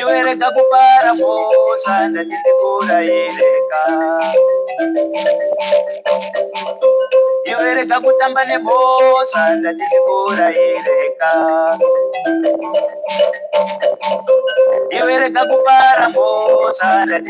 iwerega kupara mhosva ndati ndikurayireka iwerega kutamba nemhosva ndati ndikurayireka iwerega kupara mhosva ndati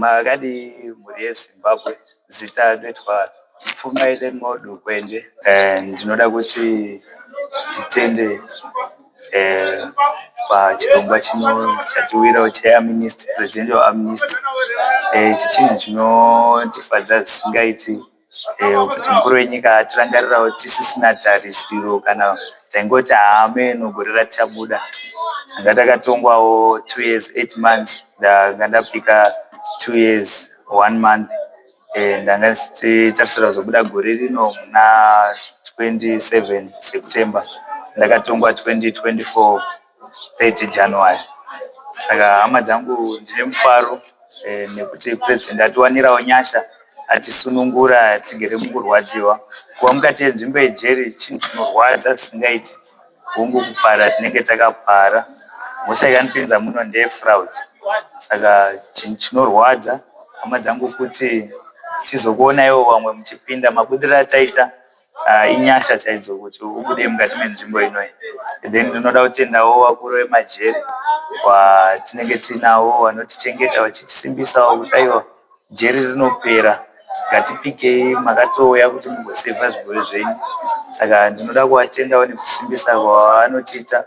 Makadii mhuri yeZimbabwe zita rinoitwa Pfumaire Modukwende. Ndinoda kuti titende pachirongwa chino chatiwirawo cheamnesty presidential amnesty ichi chinhu chinotifadza zvisingaiti. eh, kuti mukuru wenyika atirangarirawo tisisina tarisiro kana taingoti haameno gore ratichabuda anga takatongwawo two years eight months ndanga ndapika two years one month eh, ndanga ndichitarisira kuzobuda gore rino muna 27 september ndakatongwa 2024 30 January. Saka hama dzangu ndine mufaro eh, nekuti president atiwanirawo nyasha atisunungura tigere mukurwadziwa kuva mukati yenzvimbo yejeri chinhu chinorwadza zvisingaiti hungu kupara tinenge takapara mhosva yakanipinza muno ndeyefraud saka chinhu chinorwadza hama dzangu kuti tizokuonaiwo vamwe muchipinda mabudiriro ataita uh, inyasha chaidzo kuti ubude mukati menzvimbo inoyi then ndinoda kutendawo vakuru vemajeri watinenge tinawo vanotichengeta vachitisimbisawo kuti aiwa jeri rinopera ngatipikei makatouya kuti mugosevha zvirwere zvenyu saka ndinoda kuvatendawo nekusimbisa kwavanotiita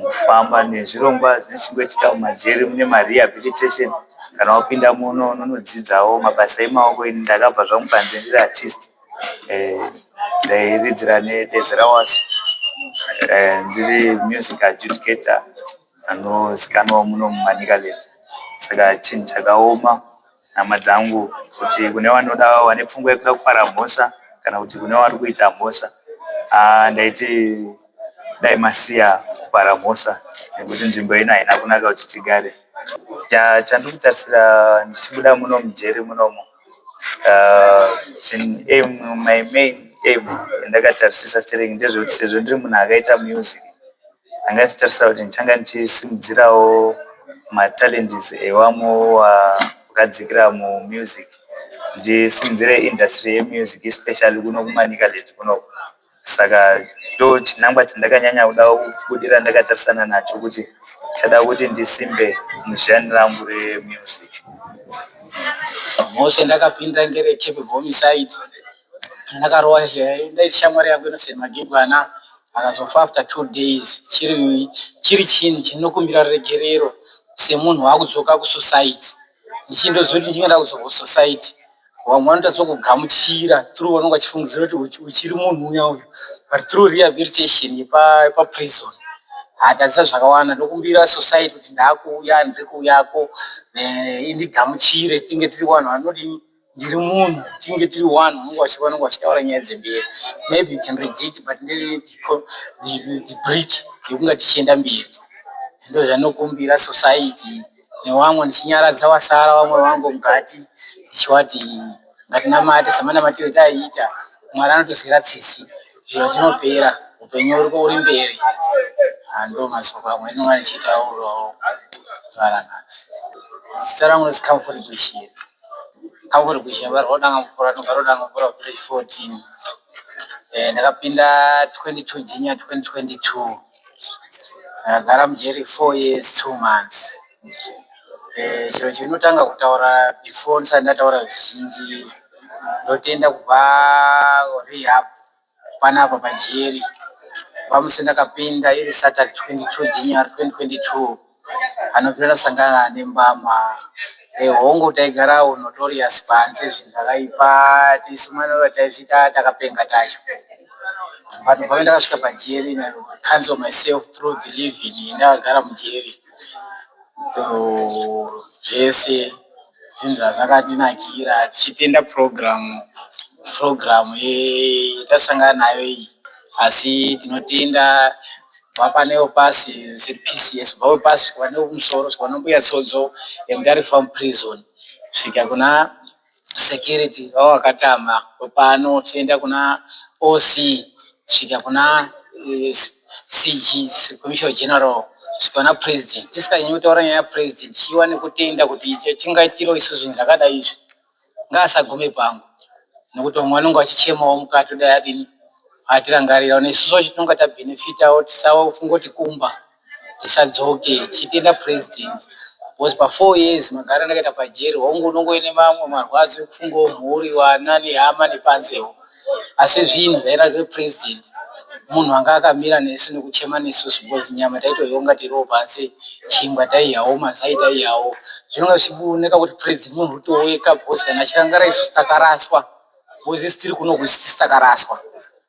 Kufamba nezvirongwa zvinochengeteka mumajeri mune marehabilitation kana wapinda muno unonodzidzawo mabasa emaoko ini ndakabva zvangu panze ndiri artist eh, ndairidzira nebezera wasu eh, ndiri music adjudicator anozikanwa muno mumanicaland saka chinhu chakaoma hama dzangu kuti kune vanoda vane pfungwa yekuda kupara mhosva kana kuti kune vari kuita mhosva ah, ndaiti dai masiya kupara mhosva nekuti nzvimbo ino haina kunaka kuti tigare ya chandiri kutarisira ndichibuda muno mujeri munomo uh, chin- aim my main aim yandakatarisisa stereki ndezvekuti sezvo ndiri munhu akaita music ndanga ndichitarisira kuti ndichanga ndichisimudzirawo machallenges ewamwe wa- wakadzikira mumusic ndisimudzire industry yemusic especially kuno kumanicaland kunoku Saka ndochinangwa chandakanyanya kuda kubudirira ndakatarisana nacho kuti chada kuti ndisimbe muzhani rangu remusic. Mose ndakapinda ngere Cape Homicide ndakarowa ndaiti shamwari yangu inoseri magigwana akazofa after two days chiri chiri chinhu chinokumbira regerero semunhu wakudzoka kusociety ndichindozoti ndichinge ndakudzoka kusociety vamwe vanoita sokugamuchira through vanenge vachifungidzira kuti uchiri munhu uya uyu but through rehabilitation yepaprison hatadzisa zvakawanda ndokumbira society kuti ndaakuuya ndiri kuuyako eh, indigamuchire tinge tiri vanhu vanodii ndiri munhu tinge tiri one unenge vachi vanenge vachitaura nyaya dzemberi maybe you can reject but ndine brick yekunga tichienda mberi ndo zvanokumbira society newamwe ndichinyaradza wasara wamwe wangu mukati ndichivati ngatinamate samanamatire taiita mwari anotizwira tsitsi zviro zvinopera upenyu uri uri mberi hando masoko amwe ndinonga ndichitaurawo zvaranasi zita rangu resi comfort gwishiri comfort gwishiri vari rodanga mvura nogara rodanga mvura village 14 Eh, ndakapinda 22 jinya 2022 Ndakagara mujeri four years two months. Chero chendinotanga kutaura before ndisati ndataura zvizhinji ndotenda kubva kurehab panapa pajeri. Kubva musi wandakapinda iri Saturday twenty two January twenty twenty two. anobvira sangana ane mbama e hongu taigarawo notorious panze zvinhu zvakaipa tisu manova taizviita takapenga tacho but pave ndakasvika pajeri na cancel myself through the living ndakagara mujeri zvese zvinhu zvazvakatinakira tichitenda program program yatasangana nayo iyi asi tinotenda kubva pane wepasi sePCS kubva wepasi kusvika pane wekumusoro kusvika kuna mbuya Tsodzo yemudare farm prison kusvika kuna security vawakatama pano tichienda kuna OC. kusvika kuna CG, Commissioner General, kusvika kuna President. Tisikanyanyi kutaura nyaya yaPresident tichiva nekutenda kuti icho chingaitirwa isu zvinhu zvakadai izvi, ngaasagume pangu nekuti vamwe vanenge vachichemawo mukati kudai adini, atirangarirawo nesuwo tinenge tabenefitawo tisafunge kuti kumba. Ndisadzoke chitenda president was pa four years magara ndakaita pajeri hongu unongo ine mamwe marwadzo ekufungawo mhuri vana nehama nepanzewo asi zvinhu zvairatidza kuti president munhu anga akamira nesu nekuchema nesu zvikozi nyama taitoionga tiriwo pasi chingwa taiyawo mazai taiyawo zvinonga zvichioneka kuti president munhu rutoweka because kana achirangara isu takaraswa because isi tiri kuno kusi takaraswa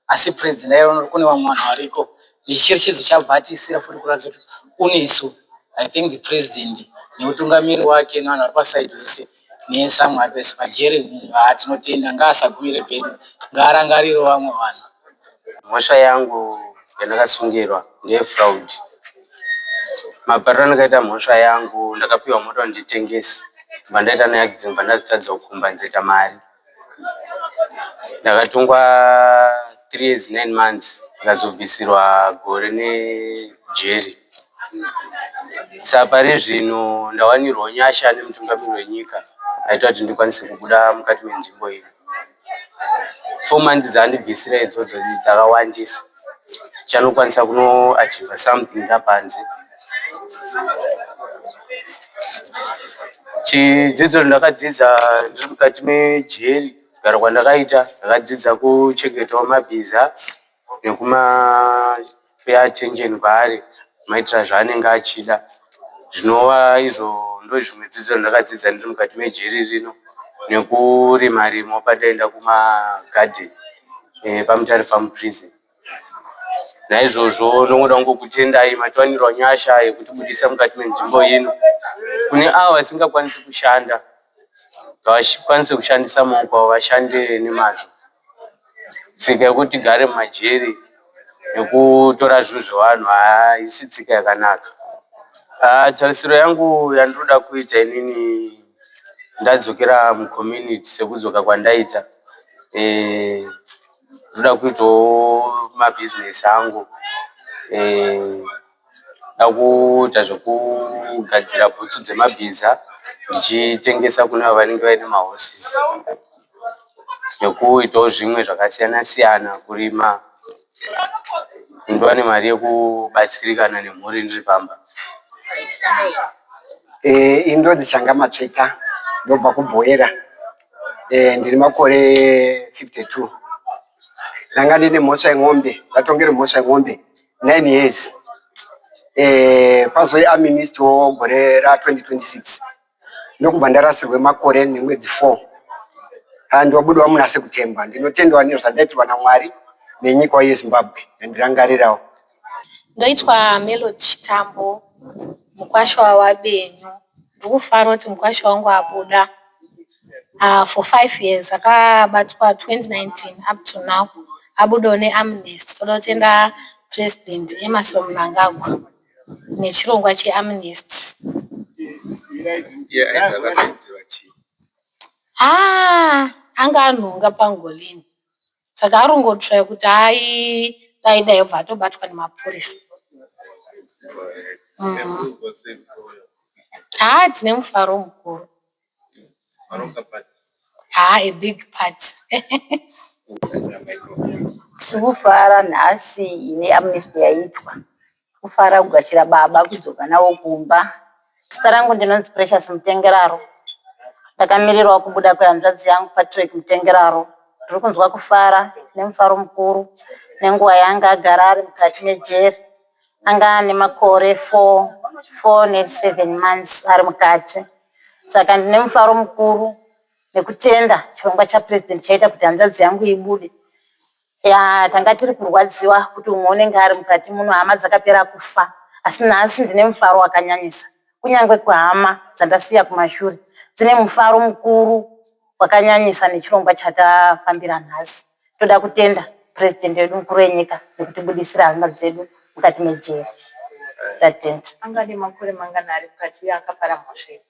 asi president aiona kuti kune vamwe vanhu variko nechirechedzo chabva atiisira futi kuratidza kuti unesu i think the president neutungamiri wake nevanhu vari pasaidi vese nesamwe ari pese pajere haa tinotenda ngaasagumire pedu ngaarangariro vamwe vanhu mhosva yangu yandakasungirwa ndeyefraud mapariro andakaita mhosva yangu ndakapiwa mota nditengesi bva ndaita neaccident bva ndazitadza kukumba nzita mari Ndakatongwa three years nine months ndikazobvisirwa gore nejeri. Saka pari zvino ndawanirwa nyasha nemutungamiri wenyika aita kuti ndikwanise kubuda mukati menzvimbo iyi. Four months dzaandibvisira idzodzo dzakawandisa. Ndichanokwanisa kunoachivha something ndapanze. Chidzidzo ndakadzidza ndiri mukati mejeri kugara kwandakaita ndakadzidza kuchengetawo mabhiza nekuma pay attention kwaari kumaitira zvaanenge achida zvinova izvo ndozvimwe dzidzo zvandakadzidza ndiri mukati mejeri rino nekurima rima pandaenda kumagadheni epaMutare Farm Prison. Naizvozvo ndongoda kungokutendai matiwanirwa nyasha yekutibudisa mukati menzvimbo ino. Kune avo vasingakwanisi kushanda, ngavakwanise kushandisa maoko avo vashande nemazvo. Tsika yekuti tigare mumajeri nekutora zvinhu zvevanhu haisi tsika yakanaka. Haa tarisiro yangu yandinoda kuita inini ndadzokera mucommunity sekudzoka kwandaita. ndoda kuitawo mabhizinesi angu eh, dakuita zvekugadzira bhutsu dzemabhiza ndichitengesa kune avo vanenge vaine mahorses nekuitawo zvimwe zvakasiyana siyana kurima ndiwane mari yekubatsirikana nemhuri ndiri pamba e, eh, indodzichanga matsveta ndobva kubhoera eh, ndiri makore 52 ndanga ndine mhosva yemombe ndatongere mhosva yemombe 9 years eh, pazoi aminist wo gore ra 2026 ndokubva ndarasirwe makore nemwedzi 4 ah, ndobudwa munase kutemba ndinotendwa nezvandaitirwa namwari nenyika yezimbabwe ndandirangarirawo Ndoitwa Melody Chitambo mukwasha waVaBenyu. Ndiri kufara kuti mukwasha wangu wabuda ah for five years akabatwa 2019 up to now abudawo neamnesty. Toda kutenda President Emmerson Mnangagwa nechirongwa cheamnesty. Haa anga anhonga pangolini. saka arongotsvaya kuti hai dai dai obva atobatwa nemapurisa haa mm. tine mufaro mukuru haa a big part tiri kufara nhasi ine amnesty yaitwa Kufara kugashira baba kudzoka navo kumba. Zita rangu ndinonzi Precious Mutengeraro. Ndakamirirwa kubuda kwehanzvadzi yangu Patrick Mutengeraro. Ndiri kunzwa kufara nemufaro mukuru nenguva yaanga agara ari mukati mejeri. Anga ane makore 4 4 ne 7 months ari mukati. Saka ndine mufaro mukuru nekutenda chirongwa chaPresident chaita kuti hanzvadzi yangu ibude. Yaa tanga tiri kurwadziwa kuti umwe unenge ari mukati muno hama dzakapera kufa asi nhasi ndine mufaro wakanyanyisa. Kunyange kuhama dzandasiya kumashure dzine mufaro mukuru wakanyanyisa nechirongwa chatafambira nhasi. Toda kutenda President wedu mukuru wenyika nekutibudisira hama dzedu mukati mejeri. Tatenda. Anga ane makore mangana ari mukati uye akapara mhosva iri?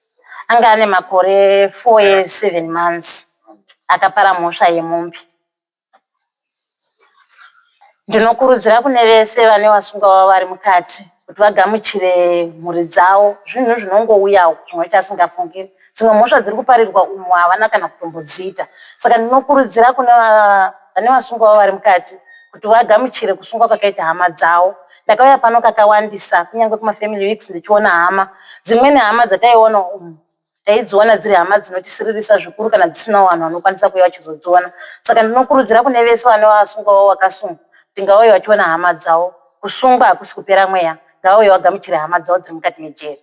Anga ane makore 4 years 7 months akapara mhosva yemombe. Ndinokurudzira kune vese vane vasungwa vavo vari mukati kuti vagamuchire mhuri dzavo. Zvinhu zvinongouyawo chimwe chasingafungiri. Dzimwe mhosva dziri kuparirwa umu havana kana kutombodziita. Saka ndinokurudzira kune vane vasungwa vavo vari mukati kuti vagamuchire kusungwa kwakaita hama dzavo. Ndakauya pano kakawandisa kunyange kumafamily weeks ndichiona hama. Dzimweni hama dzataiona umu. Taidziona dziri hama dzinotisiririsa zvikuru kana dzisinawo vanhu vanokwanisa kuuya vachizodziona. Saka ndinokurudzira kune vese vane wavasungwawo wakasungwa kuti ngavauye vachiona hama dzavo. Kusungwa hakusi kupera mweya, ngavauye vagamuchire hama dzavo dziri mukati mejeri.